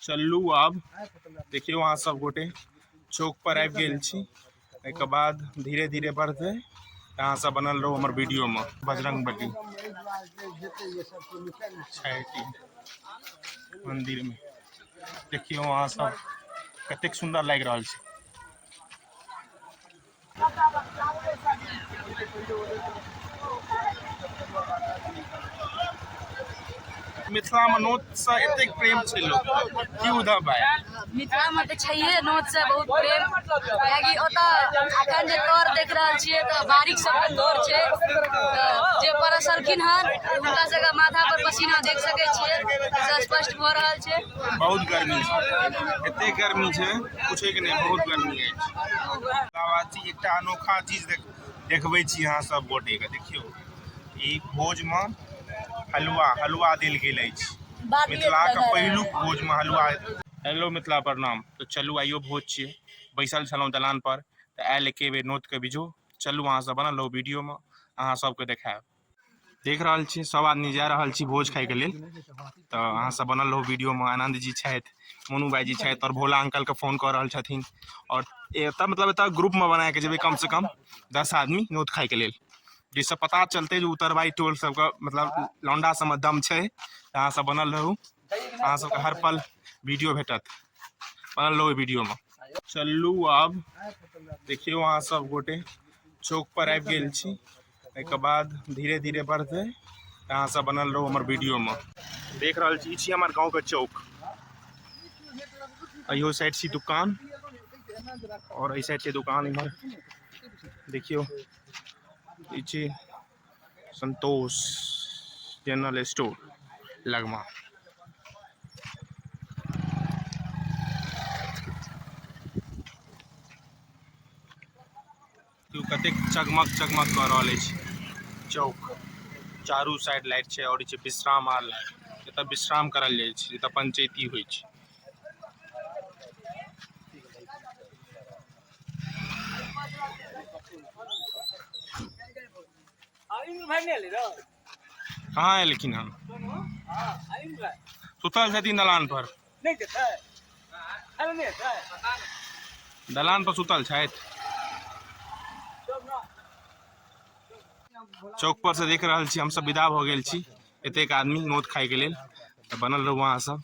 चलू आब देखियौ अहाँ सब गोटे चौक पर आबि गेल छी एहिके बाद धीरे धीरे बढ़तै अहाँ सब बनल रहू हमर वीडियो में बजरंग बली मंदिर में देखियौ अहाँ सब कतेक सुंदर लागि रहल छै मिथिला में नोत से एतेक प्रेम छै लोक की उधर भाय मिथिला में तऽ छैहे नोत से बहुत प्रेम कियाकि ओतऽ अखन जे तौर देख रहल छियै तऽ बारीक सबके तौर छै तऽ जे परसलखिन हन हुनका सबके माथा पर पसीना देख सकै छियै से स्पष्ट भऽ रहल छै बहुत गर्मी छै एते गर्मी छै पूछैके नहि बहुत गर्मी अछि एकटा अनोखा चीज देख देखबै छी अहाँ सब गोटेके देखियौ ई भोजमे हलुआ हलुआ देल गेल अछि मिथिलाके पहिलुक भोजमे हलुआ हेलो मिथिला प्रणाम तऽ चलू आइयो भोज छियै बैसल छलहुँ दलान पर तऽ आयल एके बेर नोतके बिजो चलू अहाँ सब बनल रहू वीडियोमे अहाँ सबके देखायब देख रहल छी सब आदमी जा रहल छी भोज खाय के लेल तऽ अहाँ सब बनल रहू वीडियो में आनंद जी छथि मोनू भाई जी छथि और भोला अंकल के फोन कर रहल छथिन और एतऽ मतलब एतऽ ग्रुप में बना के जेबै कम से कम दस आदमी नोत खाय के लेल जिससे पता चलते जे उतरबाई टोल सबके मतलब लौंडा सबमे दम छै तऽ अहाँ सब बनल रहू अहाँ सबके हर पल वीडियो भेटत बनल रहू वीडियो में चलू आब देखियौ अहाँ सब गोटे चौक पर आबि गेल छी एहिके बाद धीरे धीरे बढ़तै अहाँ सब बनल रहू हमर वीडियोमे देख रहल छी ई छी हमर गाँवके चौक अहियो साइड छी दुकान आओर एहि साइड छै दुकान इम्हर देखियौ ई छी संतोष जनरल स्टोर लगमा देखियौ कतेक चकमक चकमक कऽ रहल अछि चौक चारू साइड लाइट छै आओर छै विश्राम आर एतऽ विश्राम करल जाइ छै एतऽ पंचैती होइ छै भाई नहीं ले रहा कहाँ एलखिन हन सुतल छथिन दलान पर दलान पर सुतल छथि चौक पर से देख रहल छी हमसब विदा भऽ गेल छी एतेक आदमी नोत खायके लेल तऽ बनल रहू अहाँ सब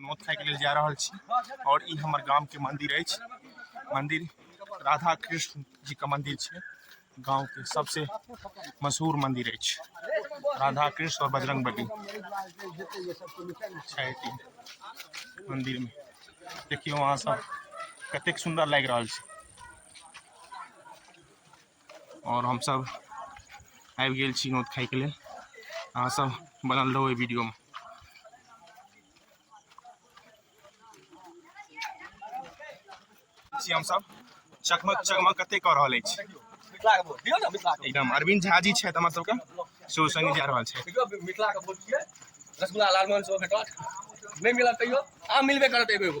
नोत खाइके लेल जा रहल छी आओर ई हमर गामके मन्दिर अछि मन्दिर राधा कृष्ण जीके मन्दिर छै गाँवके सबसे मशहूर मन्दिर अछि राधा कृष्ण आओर बजरंग बली छथि मन्दिरमे देखियौ अहाँ सब कतेक सुन्दर लागि रहल छै आओर हमसभ आबि गेल छी नोत खाइके लेल अहाँसभ बनल रहू एहि वीडियोमे छी हमसभ चकमक चकमक कते कऽ रहल अछि एकदम अरविंद झा जी छथि हमर सबके सेहो संगे जा रहल छथि रसगुल्ला लालमोहन सेहो भेटत नहि मिलत तैयो आम मिलबे करत एगो एगो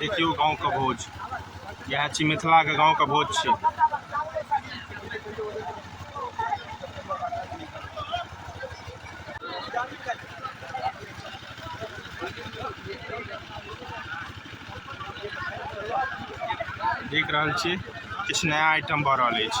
देखियौ गाँवके भोज इएह छी मिथिलाके गाँवके भोज छी देख रहल छी किछु नया आइटम भऽ रहल अछि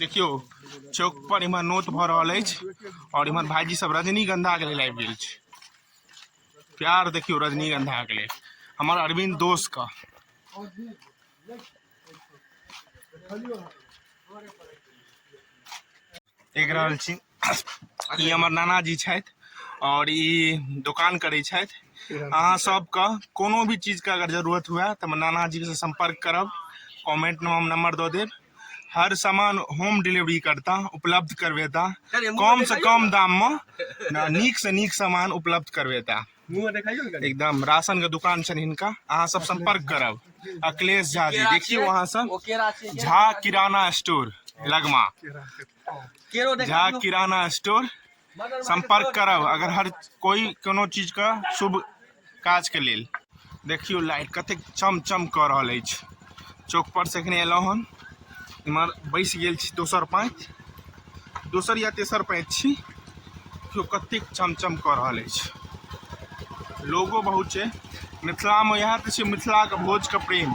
देखियौ चौक पर इम्हर नोत भऽ रहल अछि और इम्हर भाईजी सब रजनीगंधा के लेल आबि गेल छै प्यार देखियो रजनीगंधा के लेल हमर अरविंद दोस्त का देख रहल छी ई हमर नानाजी छथि आओर ई दोकान करै छथि अहाँ सबके कोनो भी चीजके अगर जरूरत हुए तऽ हमर नानाजीसँ सम्पर्क करब कमेंटमे हम नंबर दऽ देब हर सामान होम डिलीवरी करता उपलब्ध करवेता कमसँ कम दाममे नीकसँ नीक सामान उपलब्ध करवेता एकदम राशन के दुकान छनि हिनका अहाँ सब संपर्क करब अखिलेश झा जी देखियो अहाँ सब झा किराना स्टोर लगमा झा किराना स्टोर संपर्क करब अगर हर कोई कोनो चीज का शुभ काज के लेल देखियो लाइट कतेक चम चम कऽ रहल अछि चौक पर से एखने एलहुँ हन इमहर बैसि गेल छी दोसर पाँति दोसर या तेसर पाँति छी देखियौ कतेक चमचम कऽ रहल अछि लोगो बहुत छै मिथिलामे इएह तऽ छै मिथिलाके भोजके प्रेम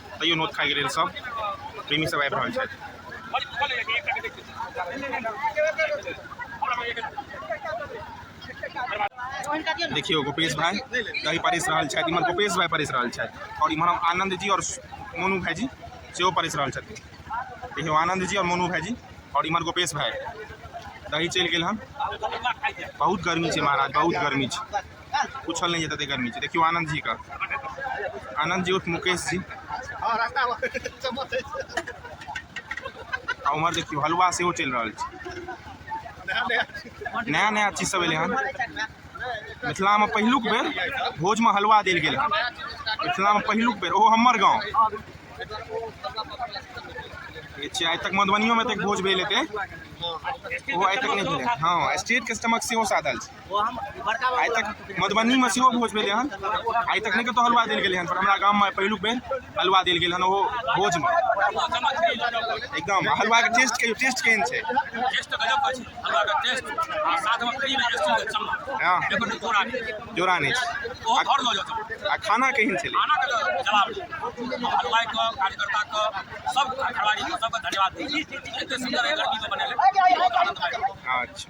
तैयो नोत खाइके लेल सब प्रेमी सब आबि रहल छथि देखियो गोपेश भाई दही परिस रहल छथि इम्हर गोपेश भाई परिस रहल छथि और इम्हर हम आनंद जी और मोनू भाई जी सेहो परिस रहल छथि देखियो आनंद जी और मोनू भाई जी और इम्हर गोपेश भाई दही चलि गेल हन बहुत गर्मी छै महाराज बहुत गर्मी छै पूछल नहि जेतै गर्मी छै देखियौ आनन्द जी का आनन्द जी उर्फ मुकेश जी आ उम्हर देखियौ हलवा सेहो चलि रहल छै नया नया चीज सब एलै हन मिथिलामे पहिलुक बेर भोजमे हलवा देल गेल हन मिथिलामे पहिलुक बेर ओहो हमर गाँव छियै आइ तक मधुबनियोमे तक भोज भेल हेतै ओहो आइ तक नहि भेलै हँ स्टेट कस्टमक सेहो साधल छै आइ तक मधुबनीमे सेहो भोज भेलै हन आइ तक नहि कतहु हलुआ देल गेलै हन पर हमरा गाममे पहिलुक बेर हलुआ देल गेल हन ओहो भोजमे एकदम हलुआके टेस्ट कहियो टेस्ट केहन छै हँ जोड़ा नहि छै आ खाना केहन छलै अच्छा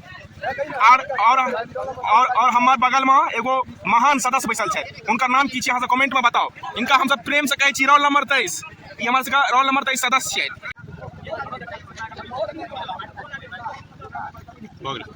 आर और और और हमर बगल में एगो महान सदस्य बैसल छै उनका नाम की छै अहाँ कमेंट में बताओ इनका हम सब प्रेम से कहै छी रोल नंबर तेईस ई हमर सबके रोल नंबर तेईस सदस्य छै भऽ गेलै